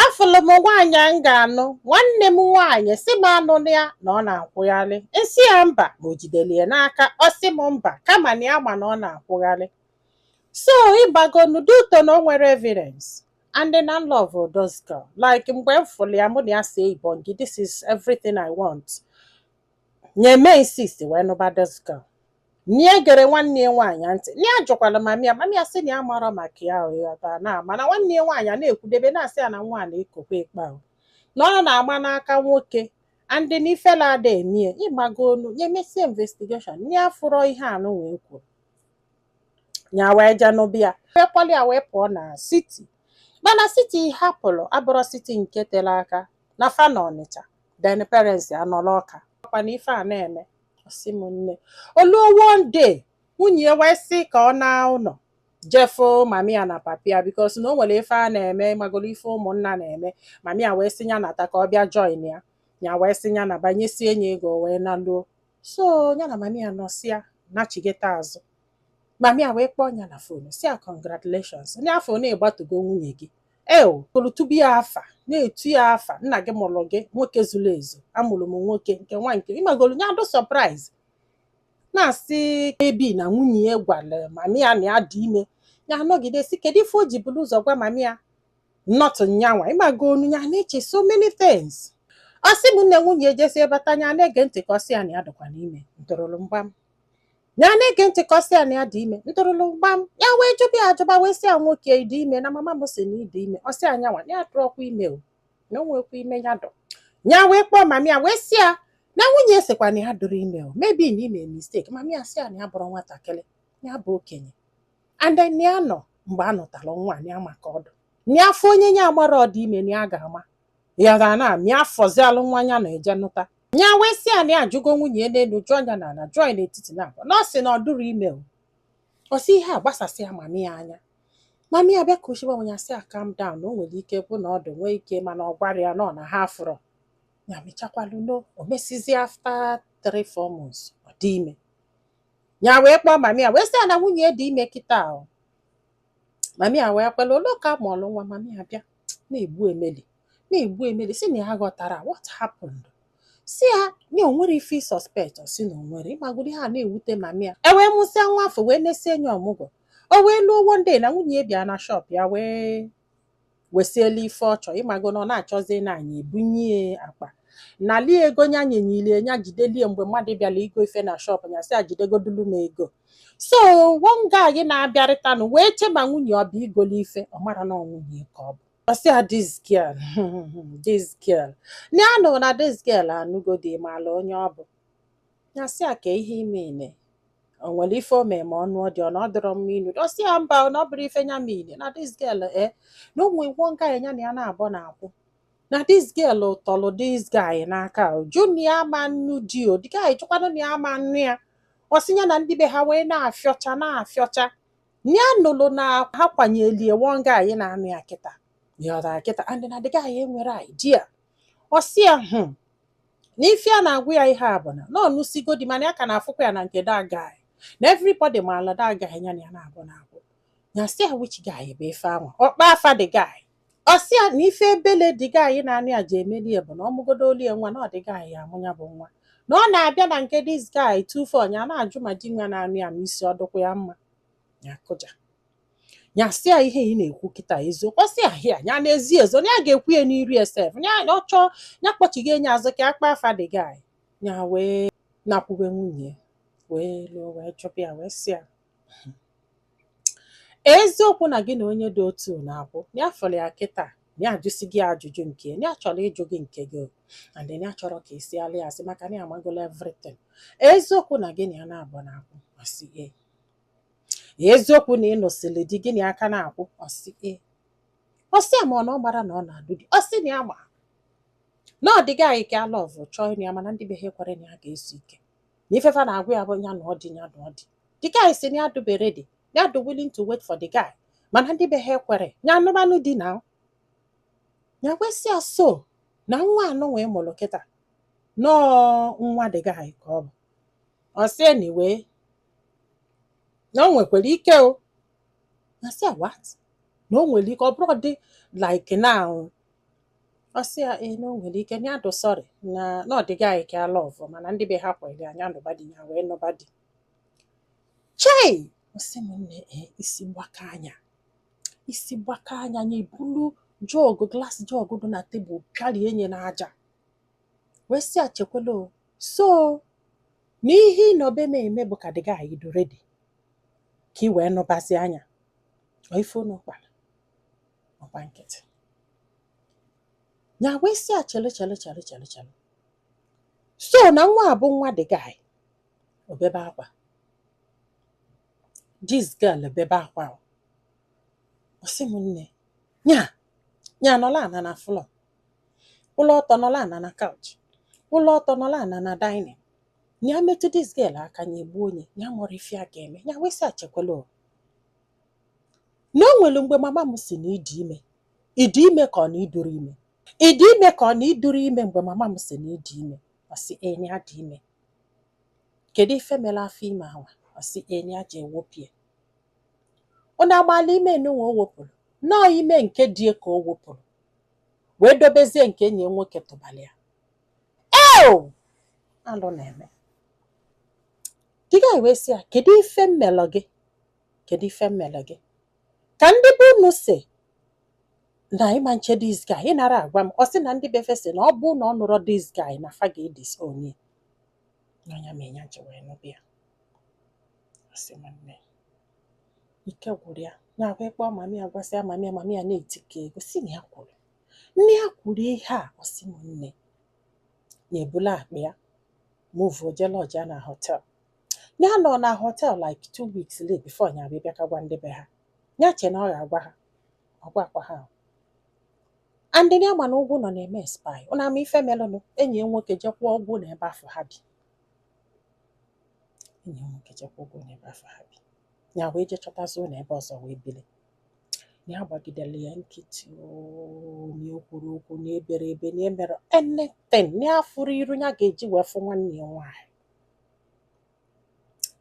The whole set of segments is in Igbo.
afụlụ m nwaanyị a m ga-anụ nwanne m nwaanyị sị m anụna ya na ọ na-akwụgharị m sị ya mba ma o jidelu ya n'aka ọ sị m mba kama na ya ma na ọ na-akwụgharị so ịmagonu due to na o nwerọ evidence and then I love this girl like mgbe m fụlụ ya mụ na-asị ibongi this is everything I want nya eme insist wee nụba this girl nya egerọ nwanne ya nwaanyị ntị nya ajụkwara mami ya mami ya sị na ya amarọ maka ya ghọta na mana nwanne ya nwaanyị a na-ekwudebe na-asị ya na nwa a na-ekokwa ekpe ahụ na ọ na-agba n'aka nwoke and na ifele ada eme ya ịmagonu nya emesie investigation nya afụrọ ihe anụwa e kwuru nya wee jee nụba ya wee kpọlụ ya wee pụọ na siti mana siti ha pụrụ abụrọ siti nke tere aka na fa nọ Ọnịcha then parents anọrọ Ọka ọkwa na ife a na-eme ọ sị m nne o luo one day nwunye ya wee sị ka ọ naa ụnọ je fụ mami ya na papi ya because na o nwere ife a na-eme ịmagoro ife ụmụnna na-eme mami ya wee sị ya nata ka ọ bịa join ya ya wee sị ya naba nyesie nya ego wee naa luo so ya na mami ya nọsịa nachighata azụ mami ya wee kpọọ ya na phone sị ya congratulations na a fụ na ị gbatugo nwunye gị eo welu tube ya afa na-etu ya afa nna gị mụrụ gị nwoke zuru ezu amụrụ m nwoke nke nwa nke ịmagolu nya adị surprise na-asị abi na nwunye ya gwara mami ya na ya dị ime ya anọgide sị kedu ife o ji bụrụ ụzọ gwa mami ya not nyanwa ịmagolu ya na-eche so many things ọ sị m nne nwunye ya jesie bata nya na-ege ntị ka ọ sị ya na ya dịkwanụ ime ntụrụrụ mgbam ya na-ege ntị ka ọ sị ya na ya dị ime ntụrụlụ mgbam ya wee jụba ya ajụba wee sị ya nwoke ị dị ime na mama m sị na ị dị ime ọ sị ya nyanwa adịrọkwa ime o na o nwekwa ime ya dị o ya wee kpọọ mami ya wee sị ya na nwunye ya sịkwa na ya adịrọ ime o maybe na i mee mistake mami ya sị ya na ya abụrọ nwatakịrị ya bụ okenye and then ya nọ mgbe a nụtara nwa ya ma ka ọ dị ya afụ onye ya amara ọ dị ime na ya ga-ama ya ga na mịa afọzi alụ nwa ya na eje nụta ya wee sị ya na ya ajụgo nwunye ya n'enu jụọ ya n'ana jụọ ya n'etiti na abụọ na ọ sị na ọ dịrọ ime o ọ sị ihe a gbasasịa mami ya anya mami ya bịa kasiba nya sị ya calm down na o nwere ike bụ na ọ dị nwee ike mana ọ gwara ya na ọ na ha afụrọ ya mechikwalụ ọnụ o mesizi after three four months ọ dị ime ya wee kpọọ mami ya wee sị ya na nwunye ya dị ime kịta o mami ya wee kwelụ o luo ka a mụlụ nwa mami ya bịa na-egbu emeli na-egbu emeli sị na ya aghọtarọ what happened sị ya na o nwere ife suspect ọ sị na o nwerọ ịmagolu ihe a na-ewute mami ya e wee mụsịa nwa afụ wee nesie nya ọmụgwọ o wee luo one day na nwunye ya bịa na shop ya wee wesiela ife ọ chọ ịmago na ọ na-achọzi na anyị ebunye ya akpa nalie ego nya nyenyilie nya jidelie mgbe mmadụ bịara igo ife na shop nya sị ya jidegodulu m ego so one guy na-abịarịtanụ wee che ma nwunye ọ bụ igoli ife ọ mara na ọ nwunye ka ọ bụ ọ sị ya this girl this girl na anụ na this girl anụgo di maala onye ọ bụ Nya sị ya ka ihe ime ime o nwere ife o mee ma ọ nụọ di ọ na ọ dịrọ mma ịnụ ọ sị ya mba ọ na ọ bụrọ ife nya mean na this girl e na o nwe one guy nya na ya naabọ na-akwụ na this girl tọlụ this guy n'aka ọ jụ na ya ama anụ di o the guy chọkwanụ na ya ma anụ ya ọ sị ya na ndị be ha wee na-afịọcha na-afịọcha ya nụlụ na ha kwanyelie one guy na-anụ ya kịta ya ọtara kịta and na the guy enwerọ idea ọ sị ya hụ n'ife a na-agwa ya ihe a bụ na ọ nụsigo di mana ya ka na-afụkwa ya na nke that guy na everybody maala that guy ya na ya naabọ na-akwụ nya sị ya which guy bụ ife anwa ọ kpọ afa the guy ọ sị ya na ife ebele the guy na-anụ ya ji emeli ya bụ na ọ mụgodolie nwa na ọ the guy ya amụ ya bụ nwa na ọ na-abịa na nke this guy tufu ọ nya na-ajụ ma di nwa na-anụ ya ma isi ọ dụkwa ya mma ya kụja ya sị ya ihe ị na-ekwu kịta eziokwu ọ sị ya hịa ya n'ezi ezo ya ga-ekwu ya n'iru ya sef ya ọ chọọ ya kpọchighị enye azụ ka a kpọ afa the guy ya wee nakwube nwunye wee luo wee chọpụ ya wee sị ya eziokwu na gị na onye dị otu na-akwụ ya fọrọ ya kịta ya ajụsi gị ajụjụ nke ya chọrọ ịjụ gị nke gị and ya achọrọ ka ị sịalị ya asị maka na ya amagola everything eziokwu na gị na ya naabọ na-akwụ ọ sị ee eziokwu na ị nụsịrị di gị na ya ka na-akwụ ọ sị ee ọ sị ya ma ọ na ọ gbara na ọ na-alụ di ọ sị na ya ma na ọ the guy ka ya love chọọ ịnụ ya mana ndị be ha ekwerọ na ya ga-ezu ike na ife fa na-agwa ya bụ ya na ọ dị ya na ọ dị the guy sị na ya dụ ready na ya dị willing to wait for the guy mana ndị be ha ekwerọ ya nụbanụ di nya wee sị ya so na nwa anụ wee mụrụ kịta na ọ nwa the guy ka ọ bụ ọ sị anyway na o nwekwara ike ọ nya sị what na o nwere ike ọ bụrụ dị like now ọ sị ya ee na o nwere ike na ya dụ sorry na na ọ the guy ka ya love mana ndị be ha ekwerọ nya nụba di ya wee nụba di chai ọ sị m nne ee isi gbakaa nya isi gbakaa nya nya bulu jug glass jug dị na table pịarie nye n'aja wee sị ya chekwela o so na ihe ị nọbe m eme bụ ka dis guy dị ready ka ị wee nụbazia nya ọ ife unu kpara ọ gba nkịtị ya wee sị ya chelu chelu chelu chelu chelu so na nwa a bụ nwa dis guy o bebe akwa dis girl bebe akwa ahụ ọ sị m nne nya nya nọla ana na flọ kwụla ọtọ nọla ana na couch kwụla ọtọ nọla ana na dining ya metụ dis girl aka ya egbuo onye ya mụrụ ife a ga-eme ya wee sị ya chekwala o na o nwere mgbe mama m si na ị dị ime ị dị ime ka ọ na ị dịrọ ime ị dị ime ka ọ na ị dịrọ ime mgbe mama m si na ị dị ime ọ sị na nya dị ime kedu ife mere afọ ime ahụ ọ sị na nya jee wepụ ya ọ na-agbala ime enunwe o wepụrụ nọọ ime nke di ya ka o wepụrụ wee dobezie nke enyi ya nwoke tụbara ya eo alụ na-eme dis guy wee sị ya kedu ife m melụ gị kedu ife m melụ gị ka ndị be unu si na ịma nche dis guy ị nara agwa m ọ sị na ndị be fa si na ọ bụ na ọ nụrọ dis guy na fa ga-edisown ya na ọ nya mee nya ji wee nụba ya Ọ sị m nne, ike gwụrụ ya ya wee kpọọ mami ya gwasịa mami ya mami ya na-eti ka ego si na ya kwuru na ya kwuru ihe a ọ sị m nne ya ebula akpa ya muvuo jee lọjịa na họtel ya nọ na họtel like two weeks late before ya abịa bịa ka gwa ndị be ha ya che na ọ ga-agwa ha ọ gwakwa ha ahụ. and ya ma na ụgwọ nọ na-eme spy unu ama ife melụnụ enyi ya nwoke je kwụọ ụgwọ na ebe afụ ha bi enyi m nwoke je kwụọ ụgwọ n'ebe afụ ha bi ya wee jee chọtazi ụlọ ebe ọzọ wee bili ya agbagidela ya nkịtị oo, na ya ekwurọ okwu na eberọ ebe na emerọ anything na ya afụrọ iru ya ga-eji wee fụ nwanne ya nwaanyị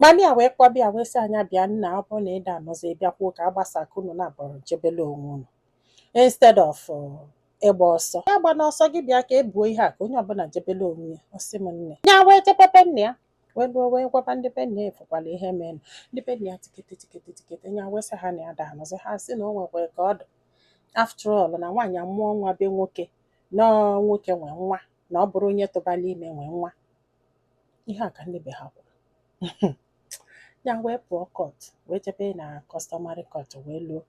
mami ya wee kpọba ya wee sị nya bịa nna ọ bụrụ na ị da-anụzi bịakwuo ka a gbasa ka unu naabọ jebele onwe unu instead of uh, ịgba ọsọ agbana ọsọ gị bịa ka e buo ihe a ka onye ọbụla jebele onwe ya ọ sị m nne ya wee jebe be nna ya wee luo wee gwaba ndị be nna ya fụkwala ihe mere ndị be nna ya tikete tikete tikete ya wee sị ha na ya da-anụzi ha sị na o nwekwara ka ọ dị after all na nwaanyị amụọ nwa be nwoke na ọ nwoke nwe nwa na ọ bụrọ onye tụbara ime nwe nwa ihe a ka ndị be ha kwuru ya wee pụọ kọt wee jebe na kọstọmarị kọt wee luo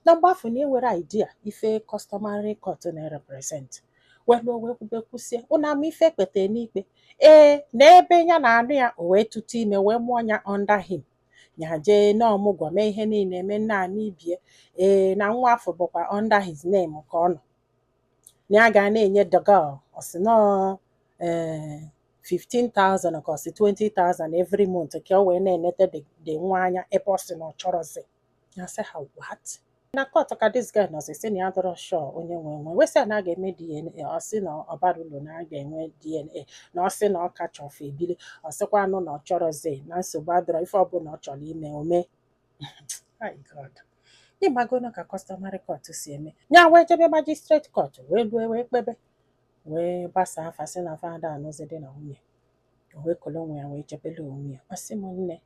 na mgbe afụ na enwere idea ife customary court na-represent wee luo wee kwube kwusie unu ama ife e kpete n'ikpe ee na ebe ya na-anụ ya o wee tụta ime wee mụọ ya under him ya jee na ọmụgwọ mee ihe niile eme nna ama ibe ya ee na nwa afụ bụkwa under his name ka ọ nọ na ya ga na-enye the girl ọ sị na ọ ee 15,000 ka ọ sị 20,000 every month ka o wee na-enete the the nwa anya ebe ọ sị na ọ chọrọzi ya sị ha what na court ka this guy nọzi sị na ya adọrọ sure onye nwe nwa wee sị ya na a ga-eme DNA ọ sị na ọ barọ ulu na a ga-enwe DNA na ọ sị na ọ ka chọ fa ebili ọ sịkwanụ na ọ chọrọzi na nsogbu adọrọ ife ọbụla ọ chọrọ ime o mee my god ị magonu ka customary court si eme ya wee jebe magistrate court wee lue wee kpebe wee gbasaa fa sị na fa ada-anụzi di na nwunye o wee kolo onwe ya wee jebele onwe ya ọ sị m nne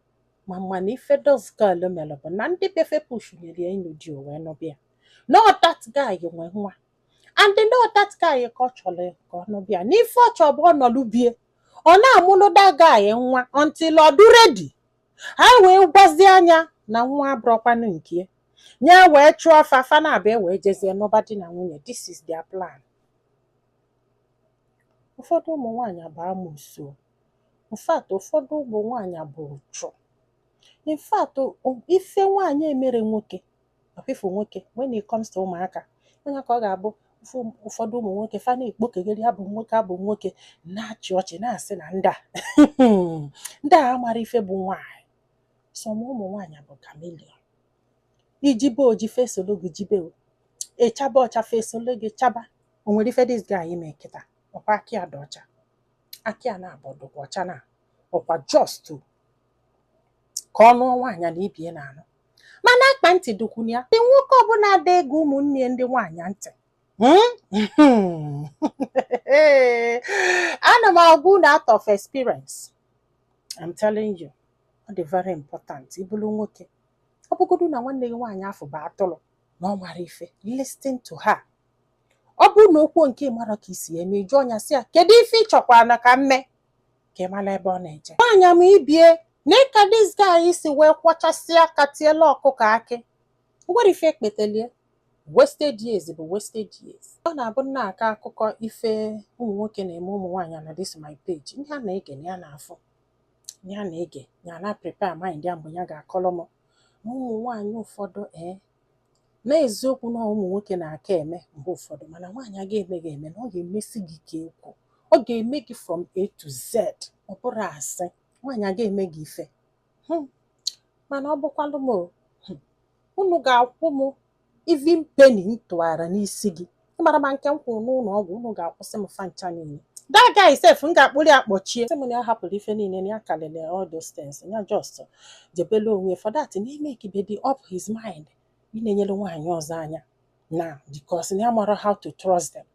ma mana ife this girl mere bụ na ndị be fa pushinyere ya ịnụ di o wee nụba ya na ọ that guy nwe nwa and na ọ that guy ka ọ chọrọ ka ọ nụba ya na ife ọ chọrọ bụ ọ nọlụ be ya ọ na-amụlụ that guy nwa until ọ dụ ready ha wee gwazie nya na nwa abụrọkwanụ nke ya nya ewee chụọ fa fa naabọ wee jezie nụba di na nwunye this is their plan ụfọdụ ụmụ nwaanyị bụ amosu in fact ụfọdụ ụmụ nwaanyị bụ uchu in fact o- ife nwaanyị emere nwoke ọfịfụ nwoke when it comes to ụmụaka onye ka ọ ga-abụ ụfụ- ụfọdụ ụmụ nwoke fa na-ekpokegharị abụ nwoke abụ nwoke na-achị ọchị na-asị na ndị a ndị a amarọ ife bụ nwaanyị some ụmụ nwaanyị bụ chameleon i jibe oji fa esolu gị jibe o. ị chaba ọcha fa esolu gị chaba o nwere ife this guy ime kịta ọkwa aka ya dị ọcha aka ya naabọ dụkwa ọcha na ọkwa just ka ọ nụọ nwaanyị na ibe ya na-anụ mana akpa ntị dụkwunu ya ndị nwoke ọbụla ada-ege ụmụnne ya ndị nwaanyị ntị Hmm? ana m agwa unu out of experience I'm telling you ọ dị very important ị bụrụ nwoke ọ bụgodu na nwanne gị nwaanyị afụ bụ atụrụ na ọ marọ ife listen to her ọ bụrụ na o kwu nke ị marọ ka i si eme ị jụọ nya sị ya kedu ife ị chọkwara na ka m mee ka ị mara ebe ọ na-eje nwaanyị ma ibe ya nee ka this guy si wee kwọchasịa aka tielụ ọkụkọ akị nwere ife ekpetelie wasted years bụ wasted years ọ na-abụ m na-akọ akụkọ ife ụmụ nwoke na-eme ụmụ nwaanyị na this my page ihe a na-ege na ya na-afụ ya na-ege ya na-prepare mind ya mgbe ya ga-akọrọ m na ụmụ nwaanyị ụfọdụ ee N'eziokwu na ụmụ nwoke na-aka eme mgbe ụfọdụ mana nwaanyị aga eme gị eme na ọ ga-emesi gị ka ekwu ọ ga-eme gị from A to Z ọ bụrụ a sị nwaanyị aga eme gị ife hmm. mana ọ bụkwalụ m hmm, unu ga-akwụ m even penny m tụgara n'isi gị ị mara ma nke m kwụrụ n'ụlọ ọgwụ unu ga-akwụsị m fa ncha niile that guy sef m ga-akpụrụ ya kpọchie sị m na ya hapụrụ ife niile na ya kalịrị all those things ya just jebele onwe for that na emakebedi up his mind ị na-enyere nwaanyị ọzọ anya na because na ya amarọ how to trust them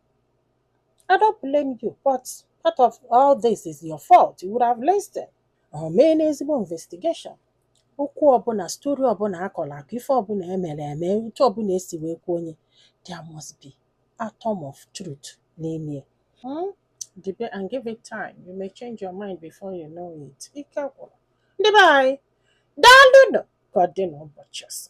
I don't blame you but part of all this is your fault you would have listened or mee n'ezigbo investigation okwu ọbụla story ọbụla a kọrọ akọ ife ọbụla e mere eme otu ọbụla e si wee kwuo onye there must be atom of truth n'ime ya Hmm? Debe and give it time. You may change your mind before you know it. Ike gwụrụ. Ndị be anyị, daalụ nụ ka ọ dị n'ụbọchị ọzọ.